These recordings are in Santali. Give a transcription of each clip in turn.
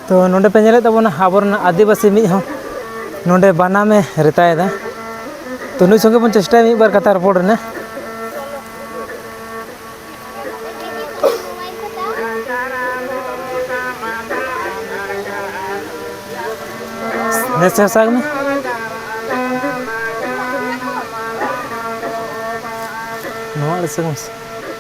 ᱛᱚ ᱱᱚᱰᱮ ᱯᱮ ᱧᱮᱞᱮᱫ ᱛᱟᱵᱚᱱᱟ ᱟᱵᱚᱨᱮᱱ ᱟᱹᱫᱤᱵᱟᱹᱥᱤ ᱢᱤᱫ ᱦᱚᱸ ᱱᱚᱰᱮ ᱵᱟᱱᱟᱢᱮ ᱨᱮᱛᱟᱭᱮᱫᱟ ᱛᱚ ᱱᱩᱭ ᱥᱚᱸᱜᱮ ᱵᱚᱱ ᱪᱮᱥᱴᱟᱭᱟ ᱢᱤᱫ ᱵᱟᱨ ᱠᱟᱛᱷᱟ ᱨᱚᱯᱚᱲ ᱨᱮᱱᱟᱜ ᱱᱮᱥ ᱦᱟᱥᱟᱜ ᱢᱮ ᱱᱚᱣᱟ ᱟᱹᱰᱤ ᱥᱟᱺᱜᱤᱧ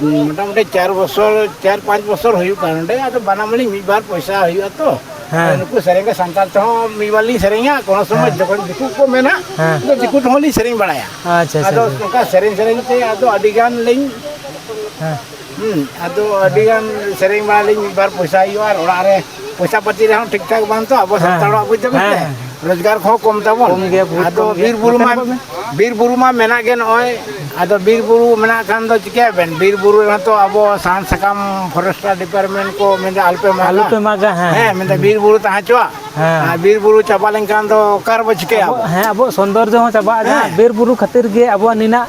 ᱢᱚᱴᱟᱢᱩᱴᱤ ᱪᱟᱨ ᱵᱚᱪᱷᱚᱨ ᱪᱟᱨ ᱯᱟᱸᱪ ᱵᱚᱪᱷᱚᱨ ᱦᱩᱭᱩᱜ ᱠᱟᱱᱟ ᱱᱚᱰᱮ ᱟᱫᱚ ᱵᱟᱱᱟᱢ ᱟᱹᱞᱤᱧ ᱢᱤᱫ ᱵᱟᱨ ᱯᱚᱭᱥᱟ ᱦᱩᱭᱩᱜᱼᱟ ᱛᱚ ᱦᱮᱸ ᱱᱩᱠᱩ ᱥᱮᱨᱮᱧ ᱥᱟᱱᱛᱟᱲ ᱛᱮᱦᱚᱸ ᱢᱤᱫ ᱵᱟᱨ ᱞᱤᱧ ᱥᱮᱨᱮᱧᱟ ᱠᱳᱱᱳ ᱥᱚᱢᱚᱭ ᱡᱚᱠᱷᱚᱱ ᱫᱤᱠᱩ ᱠᱚ ᱢᱮᱱᱟ ᱟᱫᱚ ᱫᱤᱠᱩ ᱛᱮᱦᱚᱸ ᱞᱤᱧ ᱥᱮᱨᱮᱧ ᱵᱟᱲᱟᱭᱟ ᱟᱫᱚ ᱱᱚᱝᱠᱟ ᱥᱮᱨᱮᱧ ᱥᱮᱨᱮᱧ ᱛᱮ ᱟᱫᱚ ᱟᱹᱰᱤ ᱜᱟᱱ ᱞᱤᱧ ᱦᱮᱸ ᱟᱫᱚ ᱟᱹᱰᱤ ᱜᱟᱱ ᱥᱮᱨᱮᱧ ᱵᱟᱲᱟ ᱞᱤᱧ ᱢᱤᱫ ᱵᱟᱨ ᱯᱚᱭᱥᱟ ᱦᱩᱭᱩᱜᱼᱟ ᱟᱨ ᱚᱲᱟᱜ ᱨᱮ ᱯᱚᱭᱥᱟ ᱯᱟᱹᱛᱤ ᱨᱮᱦᱚᱸ ᱴᱷᱤᱠ ᱴᱷᱟᱠ ᱵᱟᱝ ᱛᱚ ᱟᱵᱚ ᱥᱟᱱᱛᱟᱲ ᱦᱚᱲᱟᱜ ᱵᱩᱡᱽ ᱫᱟᱵᱮᱱ ᱥᱮ ᱨᱳᱡᱽᱜᱟᱨ ᱠᱚᱦᱚᱸ ᱠᱚᱢ ᱛᱟᱵᱚᱱ ᱠᱚᱢ ᱜᱮᱭᱟ, ᱵᱚᱦᱩᱛ ᱟᱫᱚ ᱠᱚᱢ ᱜᱮᱭᱟ᱾ ᱵᱤᱨ ᱵᱩᱨᱩ ᱢᱟ ᱱᱚᱛᱮ ᱵᱟᱵᱮᱱ? ᱵᱤᱨ ᱵᱩᱨᱩ ᱢᱟ ᱢᱮᱱᱟᱜ ᱜᱮ ᱱᱚᱜᱼᱚᱭ ᱟᱫᱚ ᱵᱤᱨ ᱵᱩᱨᱩ ᱢᱮᱱᱟᱜ ᱠᱷᱟᱱ ᱫᱚ ᱪᱤᱠᱟᱹᱭᱟᱵᱮᱱ ᱵᱤᱨ ᱵᱩᱨᱩ ᱨᱮᱦᱚᱸ ᱛᱚ ᱟᱵᱚ ᱥᱟᱦᱟᱱ ᱥᱟᱠᱟᱢ ᱯᱷᱚᱨᱮᱥᱴᱟᱨ ᱰᱤᱯᱟᱨᱴᱢᱮᱱᱴ ᱠᱚ ᱢᱮᱱᱫᱟ ᱟᱞᱚᱯᱮ ᱢᱟᱜᱟ ᱟᱞᱚ ᱯᱮ ᱢᱟᱜᱟ ᱦᱮᱸ ᱦᱮᱸ ᱢᱮᱱᱫᱟ ᱵᱤᱨ ᱵᱩᱨᱩ ᱛᱟᱦᱮᱸ ᱦᱚᱪᱚᱣᱟᱜ ᱦᱮᱸ᱾ ᱟᱨ ᱵᱤᱨ ᱵᱩᱨᱩ ᱪᱟᱵᱟ ᱞᱮᱱᱠᱷᱟᱱ ᱫᱚ ᱚᱠᱟ ᱨᱮᱵᱚ ᱪᱤᱠᱟᱹᱭᱟ ᱟᱵᱚ? ᱦᱮᱸ ᱟᱵᱚᱣᱟᱜ ᱥᱚᱱᱫᱚᱨᱡᱚ ᱦᱚᱸ ᱪᱟᱵᱟᱜᱼᱟ ᱡᱟᱦᱟᱸ ᱦᱮᱸ᱾ ᱵᱤᱨ ᱵᱩᱨᱩ ᱠᱷᱟᱹᱛᱤᱨ ᱜᱮ ᱟᱵᱚᱣᱟᱜ ᱱᱤᱱᱟᱜ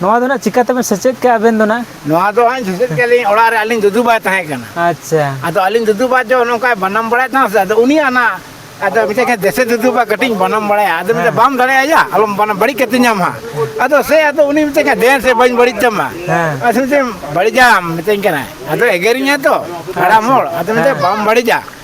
ᱱᱚᱣᱟ ᱫᱚ ᱱᱟᱜ ᱪᱤᱠᱟᱹ ᱛᱮᱵᱮᱱ ᱥᱮᱪᱮᱫ ᱠᱮᱜᱼᱟ ᱟᱵᱮᱱ ᱫᱚ ᱱᱟᱜ ᱱᱚᱣᱟ ᱫᱚ ᱦᱟᱸᱜ ᱥᱮᱪᱮᱫ ᱠᱮᱜᱼᱟ ᱞᱤᱧ ᱚᱲᱟᱜ ᱨᱮ ᱟᱹᱞᱤᱧ ᱫᱩᱫᱩ ᱵᱟᱭ ᱛᱟᱦᱮᱸ ᱠᱟᱱᱟ ᱟᱪᱪᱷᱟ ᱟᱫᱚ ᱟᱹᱞᱤᱧ ᱫᱩᱫᱩ ᱵᱟ ᱡᱚ ᱱᱚᱝᱠᱟᱭ ᱵᱟᱱᱟᱢ ᱵᱟᱲᱟᱭ ᱛᱟᱦᱮᱸ ᱥᱮ ᱟᱫᱚ ᱩᱱᱤ ᱟᱱᱟ ᱟᱫᱚ ᱢᱤᱫᱴᱮᱡ ᱠᱷᱟᱱ ᱫᱮᱥᱮ ᱫᱩᱫᱩ ᱵᱟ ᱠᱟᱹᱴᱤᱡ ᱵᱟᱱᱟᱢ ᱵᱟᱲᱟᱭᱟ ᱟᱫᱚ ᱢᱤᱫᱴᱮᱡ ᱵᱟᱢ ᱫᱟᱲᱮᱭᱟᱭᱟ ᱟᱞᱚᱢ ᱵᱟᱱᱟᱢ ᱵᱟᱹᱲᱤᱡ ᱠᱟᱛᱮ ᱧᱟᱢ ᱦᱟᱸᱜ ᱟᱫᱚ ᱥᱮ ᱟᱫᱚ ᱩᱱᱤ ᱢᱤᱫᱴᱮᱡ ᱠᱷᱟᱱ ᱫᱮᱱ ᱥᱮ ᱵᱟᱹᱧ ᱵᱟᱹᱲᱤᱡ ᱛᱟᱢᱟ ᱦᱮᱸ ᱟᱫᱚ ᱢᱤᱫᱴᱮᱡ ᱵᱟᱹᱲᱤᱡᱟᱢ ᱢᱤᱛᱟᱹᱧ ᱠᱟᱱᱟᱭ ᱟᱫᱚ ᱮᱜᱮᱨᱤᱧᱟᱭ ᱛᱚ ᱦᱟᱲᱟᱢ ᱦᱚᱲ ᱟᱫᱚ ᱢᱤᱫᱴᱮᱡ ᱵᱟᱢ ᱵᱟᱹᱲᱤᱡᱟ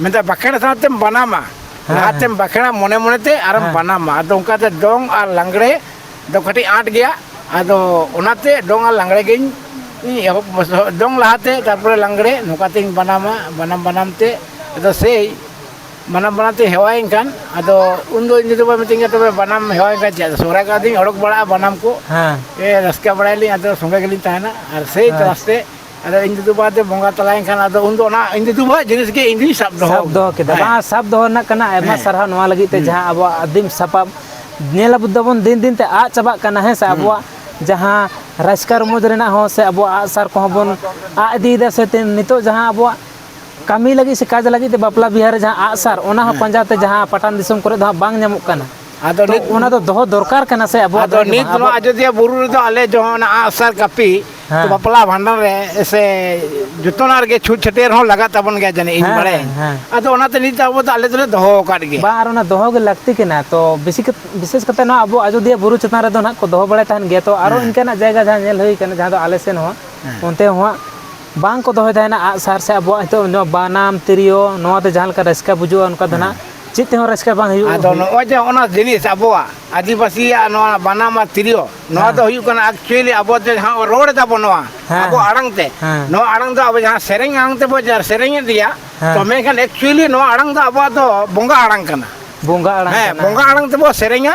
ᱢᱮᱱᱫᱟ ᱵᱟᱸᱠᱷᱮᱲ ᱥᱟᱶᱛᱮᱢ ᱵᱟᱱᱟᱢᱟ ᱦᱮᱸ, ᱞᱟᱦᱟᱛᱮᱢ ᱵᱟᱸᱠᱷᱮᱲᱟ ᱢᱚᱱᱮ ᱢᱚᱱᱮᱛᱮ ᱟᱨᱮᱢ ᱦᱮᱸ᱾ ᱵᱟᱱᱟᱢᱟ ᱟᱫᱚ ᱚᱱᱠᱟᱛᱮ ᱫᱚᱝ ᱟᱨ ᱞᱟᱜᱽᱲᱮ ᱫᱚ ᱠᱟᱹᱴᱤᱡ ᱟᱸᱴ ᱜᱮᱭᱟ ᱟᱫᱚ ᱚᱱᱟᱛᱮ ᱫᱚᱝ ᱟᱨ ᱞᱟᱜᱽᱲᱮ ᱜᱤᱧ ᱤᱧ ᱮᱦᱚᱵ ᱫᱚᱝ ᱞᱟᱦᱟᱛᱮ ᱛᱟᱨᱯᱚᱨᱮ ᱞᱟᱜᱽᱲᱮ ᱱᱚᱝᱠᱟᱛᱤᱧ ᱵᱟᱱᱟᱢᱟ ᱵᱟᱱᱟᱢ ᱵᱟᱱᱟᱢ ᱛᱮ ᱟᱫᱚ ᱥᱮᱭ ᱵᱟᱱᱟᱢ ᱵᱟᱱᱟᱢ ᱛᱮ ᱦᱮᱣᱟᱭᱮᱱ ᱠᱷᱟᱱ ᱟᱫᱚ ᱩᱱᱫᱚ ᱤᱧ ᱫᱚ ᱵᱟᱭ ᱢᱤᱛᱟᱹᱧ ᱠᱟᱱᱟ ᱛᱚᱵᱮ ᱵᱟᱱᱟᱢ ᱦᱮᱣᱟᱭᱮᱱ ᱠᱷᱟᱱ ᱪᱮᱫ ᱥᱚᱦᱨᱟᱭ ᱠᱚᱨᱮ ᱫᱚᱧ ᱚᱰᱚᱠ ᱵᱟᱲᱟᱜᱼᱟ ᱵᱟᱱᱟᱢ ᱠᱚ ᱦᱮᱸ ᱮ ᱨᱟᱹᱥᱠᱟᱹ ᱵᱟᱲᱟᱭᱟᱞᱤᱧ ᱟᱫᱚ ᱥᱚᱸᱜᱮ ᱜᱮᱞᱤᱧ ᱛᱟᱦᱮᱱᱟ ᱟᱨ ᱥᱮᱭ ᱛᱚ ᱟᱥᱛᱮ ᱟᱫᱚ ᱤᱧ ᱫᱩᱫᱩ ᱵᱟᱵᱟ ᱫᱚ ᱵᱚᱸᱜᱟ ᱛᱟᱞᱟᱭᱮᱱ ᱠᱷᱟᱱ ᱟᱫᱚ ᱩᱱᱫᱚ ᱚᱱᱟ ᱤᱧ ᱫᱩᱫᱩ ᱵᱟᱵᱟ ᱡᱤᱱᱤᱥ ᱜᱮ ᱤᱧ ᱫᱩᱧ ᱥᱟᱵ ᱫᱚᱦᱚ ᱥᱟᱵ ᱫᱚᱦᱚ ᱠᱮᱫᱟ ᱦᱮᱸ᱾ ᱵᱟᱝ ᱥᱟᱵ ᱫᱚᱦᱚ ᱨᱮᱱᱟᱜ ᱠᱟᱱᱟ ᱟᱭᱢᱟ ᱦᱮᱸ᱾ ᱥᱟᱨᱦᱟᱣ ᱱᱚᱣᱟ ᱞᱟᱹᱜᱤᱫ ᱛᱮ ᱡᱟᱦᱟᱸ ᱟᱵᱚᱣᱟᱜ ᱟᱹᱫᱤᱢ ᱥᱟᱯᱟᱵ ᱧᱮᱞ ᱟᱵᱚ ᱫᱟᱵᱚᱱ ᱫᱤᱱ ᱫᱤᱱ ᱛᱮ ᱟᱫ ᱪᱟᱵᱟᱜ ᱠᱟᱱᱟ ᱦᱮᱸ ᱥᱮ ᱟᱵᱚᱣᱟᱜ ᱡᱟᱦᱟᱸ ᱨᱟᱹᱥᱠᱟᱹ ᱨᱚᱢᱚᱡᱽ ᱨᱮᱱᱟᱜ ᱦᱚᱸ ᱥᱮ ᱟᱵᱚᱣᱟᱜ ᱟᱜᱼᱥᱟᱨ ᱠᱚᱦᱚᱸ ᱵᱚᱱ ᱟᱫ ᱤᱫᱤᱭᱮᱫᱟ ᱥᱮ ᱛᱮ- ᱱᱤᱛᱚᱜ ᱡᱟᱦᱟᱸ ᱟᱵᱚᱣᱟᱜ ᱠᱟᱹᱢᱤ ᱞᱟᱹᱜᱤᱫ ᱥᱮ ᱠᱟᱡᱽ ᱞᱟᱹᱜᱤᱫ ᱛᱮ ᱵᱟᱯᱞᱟ ᱵᱤᱦᱟᱹ ᱨᱮ ᱡᱟᱦᱟᱸ ᱟᱜᱼᱥᱟᱨ ᱚᱱᱟ ᱦᱚᱸ ᱯᱟᱸᱡᱟ ᱛᱮ ᱡᱟᱦᱟᱸ ᱯᱟᱴᱟᱱ ᱫᱤᱥᱚᱢ ᱠᱚᱨᱮ ᱫᱚ ᱦᱟᱸᱜ ᱵᱟᱝ ᱧᱟᱢᱚᱜ ᱠᱟᱱᱟ ᱟᱫᱚ ᱱᱤᱛ ᱚᱱᱟ ᱫᱚ ᱫᱚᱦᱚ ᱫᱚᱨᱠᱟᱨ ᱠᱟᱱᱟ ᱥᱮ ᱟᱵᱚᱣᱟᱜ ᱟᱫᱚ ᱱᱤᱛ ᱱᱚᱣᱟ ᱟᱡᱚᱫᱤᱭᱟᱹ ᱵᱩᱨᱩ ᱨᱮᱫᱚ ᱟᱞᱮ ᱡᱚᱦᱚᱱ ᱟᱜᱼᱥᱟᱨ ᱠᱟᱹᱯᱤ ᱦᱮᱸ᱾ ᱵᱟᱯᱞᱟ ᱵᱷᱟᱸᱰᱟᱱ ᱨᱮ ᱥᱮ ᱡᱚᱛᱚᱱᱟᱜ ᱨᱮᱜᱮ ᱪᱷᱩᱸᱛ ᱪᱷᱟᱹᱴᱭᱟᱹᱨ ᱦᱚᱸ ᱞᱟᱜᱟᱜ ᱛᱟᱵᱚᱱ ᱜᱮᱭᱟ ᱡᱟᱹᱱᱤᱡ ᱤᱧ ᱦᱮᱸ ᱵᱟᱲᱟᱭ ᱦᱮᱸ ᱦᱮᱸ ᱟᱫᱚ ᱚᱱᱟᱛᱮ ᱱᱤᱛ ᱟᱵᱚ ᱫᱚ ᱟᱞᱮ ᱫᱚᱞᱮ ᱫᱚᱦᱚ ᱟᱠᱟᱫ ᱜᱮᱭᱟ ᱵᱟᱝ ᱟᱨ ᱚᱱᱟ ᱫᱚᱦᱚ ᱜᱮ ᱞᱟᱹᱠᱛᱤ ᱠᱟᱱᱟ ᱛᱚ ᱵᱮᱥᱤ ᱵᱤᱥᱮᱥ ᱠᱟᱛᱮ ᱱᱚᱣᱟ ᱟᱵᱚ ᱟᱡᱚᱫᱤᱭᱟᱹ ᱵᱩᱨᱩ ᱪᱮᱛᱟᱱ ᱨᱮᱫᱚ ᱱᱟᱦᱟᱜ ᱠᱚ ᱫᱚᱦᱚ ᱵᱟᱲᱟᱭ ᱛᱟᱦᱮᱱ ᱜᱮᱭᱟ ᱛᱚ ᱟᱨᱚ ᱦᱮᱸ ᱤᱱᱠᱟᱹᱱᱟᱜ ᱡᱟᱭᱜᱟ ᱡᱟᱦᱟᱸ ᱧᱮᱞ ᱦᱩᱭ ᱠᱟᱱᱟ ᱡᱟᱦᱟᱸ ᱫᱚ ᱟᱞᱮ ᱥᱮᱱ ᱦᱚᱸ ᱦᱮᱸ ᱚᱱᱛᱮ ᱦᱚᱸ ᱵᱟᱝ ᱠᱚ ᱫᱚᱦᱚᱭ ᱛᱟᱦᱮᱱᱟ ᱟᱜᱼᱥᱟᱨ ᱥᱮ ᱟᱵᱚᱣᱟᱜ ᱱᱤᱛᱚᱜ ᱱᱚᱣᱟ ᱵᱟᱱᱟᱢ ᱛᱤᱨᱭᱳ ᱱᱚᱣᱟᱛᱮ ᱡᱟᱦᱟᱸ ᱞᱮᱠᱟ ᱨᱟᱹᱥᱠᱟᱹ ᱵᱩᱡᱩᱜᱼᱟ ᱚᱱᱠᱟ ᱫᱚ ᱦᱮᱸ ᱱᱟᱦᱟᱜ ᱪᱮᱫ ᱛᱮᱦᱚᱸ ᱨᱟᱹᱥᱠᱟᱹ ᱵᱟᱝ ᱦᱩᱭᱩᱜᱼᱟ ᱟᱫᱚ ᱱᱚᱜᱼᱚᱭ ᱡᱮ ᱚᱱᱟ ᱡᱤᱱᱤᱥ ᱟᱵᱚᱣᱟᱜ ᱟᱹᱫᱤᱵᱟᱹᱥᱤᱭᱟᱜ ᱱᱚᱣᱟ ᱵᱟᱱᱟᱢ ᱟᱨ ᱛᱤᱨᱭᱳ ᱱᱚᱣᱟ ᱫᱚ ᱦᱩᱭᱩᱜ ᱠᱟᱱᱟ ᱮᱠᱪᱩᱭᱮᱞᱤ ᱟᱵᱚ ᱡᱮ ᱡᱟᱦᱟᱸ ᱵᱚᱱ ᱨᱚᱲ ᱮᱫᱟᱵᱚᱱ ᱱᱚᱣᱟ ᱟᱵᱚ ᱟᱲᱟᱝ ᱛᱮ ᱱᱚᱣᱟ ᱟᱲᱟᱝ ᱫᱚ ᱟᱵᱚ ᱡᱟᱦᱟᱸ ᱥᱮᱨᱮᱧ ᱟᱲᱟᱝ ᱛᱮᱵᱚ ᱥᱮᱨᱮᱧᱮᱫ ᱜᱮᱭᱟ ᱛᱚ ᱢᱮᱱᱠᱷᱟᱱ ᱮᱠᱪᱩᱭᱮᱞᱤ ᱱᱚᱣᱟ ᱟᱲᱟᱝ ᱫᱚ ᱟᱵᱚᱣᱟᱜ ᱫᱚ ᱵᱚᱸᱜᱟ ᱟᱲᱟᱝ ᱠᱟᱱᱟ ᱵᱚᱸᱜᱟ ᱟᱲᱟᱝ ᱦᱮᱸ ᱵᱚᱸᱜᱟ ᱟᱲᱟᱝ ᱛᱮᱵᱚ ᱥᱮᱨᱮᱧᱟ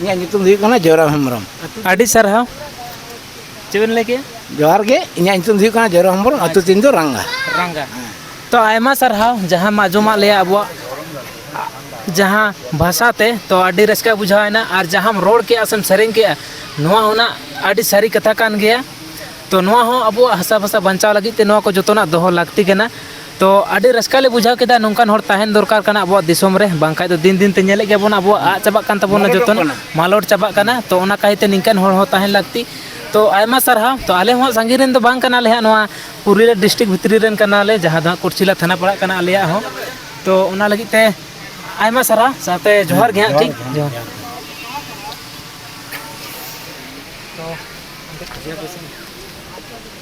ᱤᱧᱟᱹᱜ ᱧᱩᱛᱩᱢ ᱦᱩᱭᱩᱜ ᱠᱟᱱᱟ ᱡᱚᱭᱨᱟᱢ ᱦᱮᱢᱵᱨᱚᱢ ᱟᱹᱰᱤ ᱥᱟᱨᱦᱟᱣ ᱪᱮᱫ ᱵᱮᱱ ᱞᱟᱹᱭ ᱠᱮᱜᱼᱟ ᱡᱚᱦᱟᱨ ᱜᱮ ᱤᱧᱟᱹᱜ ᱧᱩᱛᱩᱢ ᱫᱚ ᱦᱩᱭᱩᱜ ᱠᱟᱱᱟ ᱡᱚᱭᱨᱟᱢ ᱦᱮᱢᱵᱨᱚᱢ ᱟᱹᱛᱩ ᱛᱤᱧ ᱫᱚ ᱨᱟᱝᱜᱟ ᱨᱟᱝᱜᱟ ᱛᱚ ᱟᱭᱢᱟ ᱥᱟᱨᱦᱟᱣ ᱡᱟᱦᱟᱸ ᱢᱟ ᱟᱸᱡᱚᱢᱟᱜ ᱞᱮᱭᱟ ᱟᱵᱚᱣᱟᱜ ᱡᱟᱦᱟᱸ ᱵᱷᱟᱥᱟ ᱛᱮ ᱛᱚ ᱟᱹᱰᱤ ᱨᱟᱹᱥᱠᱟᱹ ᱵᱩᱡᱷᱟᱹᱣᱮᱱᱟ ᱟᱨ ᱡᱟᱦᱟᱸᱢ ᱨᱚᱲ ᱠᱮᱜᱼᱟ ᱥᱮᱢ ᱥᱮᱨᱮᱧ ᱠᱮᱜᱼᱟ ᱱᱚᱣᱟ ᱚᱱᱟ ᱟᱹᱰᱤ ᱥᱟᱹᱨᱤ ᱠᱟᱛᱷᱟ ᱠᱟᱱ ᱜᱮᱭᱟ ᱛᱚ ᱱᱚᱣᱟ ᱦᱚᱸ ᱟᱵᱚᱣᱟᱜ ᱦᱟᱥᱟ ᱵᱷᱟᱥᱟ ᱵᱟᱧᱪᱟᱣ ᱞᱟᱹᱜᱤᱫ ᱛᱮ ᱱᱚᱣᱟ ᱠᱚ ᱡᱚᱛᱚᱱᱟᱜ ᱫᱚᱦᱚ ᱞᱟᱹᱠᱛᱤ ᱠᱟᱱᱟ ᱛᱚ ᱟᱹᱰᱤ ᱨᱟᱹᱥᱠᱟᱹ ᱞᱮ ᱵᱩᱡᱷᱟᱹᱣ ᱠᱮᱫᱟ ᱱᱚᱝᱠᱟᱱ ᱦᱚᱲ ᱛᱟᱦᱮᱱ ᱫᱚᱨᱠᱟᱨ ᱠᱟᱱᱟ ᱟᱵᱚᱣᱟᱜ ᱫᱤᱥᱚᱢ ᱨᱮ ᱵᱟᱝᱠᱷᱟᱡ ᱫᱚ ᱫᱤᱱ ᱫᱤᱱ ᱛᱮ ᱧᱮᱞᱮᱫ ᱜᱮᱭᱟᱵᱚᱱ ᱟᱵᱚᱣᱟᱜ ᱟᱫ ᱪᱟᱵᱟᱜ ᱠᱟᱱ ᱛᱟᱵᱚᱱᱟ ᱡᱚᱛᱚ ᱢᱟᱞᱚᱴ ᱪᱟᱵᱟᱜ ᱠᱟᱱᱟ ᱛᱚ ᱚᱱᱟ ᱠᱟᱭᱛᱮ ᱱᱤᱝᱠᱟᱱ ᱦᱚᱲ ᱦᱚᱸ ᱛᱟᱦᱮᱱ ᱞᱟᱹᱠᱛᱤ ᱛᱚ ᱟᱭᱢᱟ ᱥᱟᱨᱦᱟᱣ ᱛᱚ ᱟᱞᱮ ᱦᱚᱸ ᱥᱟᱺᱜᱤᱧ ᱨᱮᱱ ᱫᱚ ᱵᱟᱝ ᱠᱟᱱᱟᱞᱮ ᱦᱟᱸᱜ ᱱᱚᱣᱟ ᱯᱩᱨᱩᱞᱤᱭᱟᱹ ᱰᱤᱥᱴᱤᱠ ᱵᱷᱤᱛᱨᱤ ᱨᱮᱱ ᱠᱟᱱᱟᱞᱮ ᱡᱟᱦᱟᱸ ᱫᱚ ᱦᱟᱸᱜ ᱠᱩᱴᱥᱤᱞᱟ ᱛᱷᱟᱱᱟ ᱯᱟᱲᱟᱜ ᱠᱟᱱᱟ ᱟᱞᱮᱭᱟᱜ ᱦᱚᱸ ᱛᱚ ᱚᱱᱟ ᱞᱟᱹᱜᱤᱫ ᱛᱮ ᱟᱭᱢᱟ ᱥᱟᱨᱦᱟᱣ ᱥᱟᱶᱛᱮ ᱡᱚᱦᱟᱨ ᱜᱮ ᱦᱟᱸᱜ ᱴᱷᱤᱠ ᱡᱚᱦᱟᱨ ᱛᱚ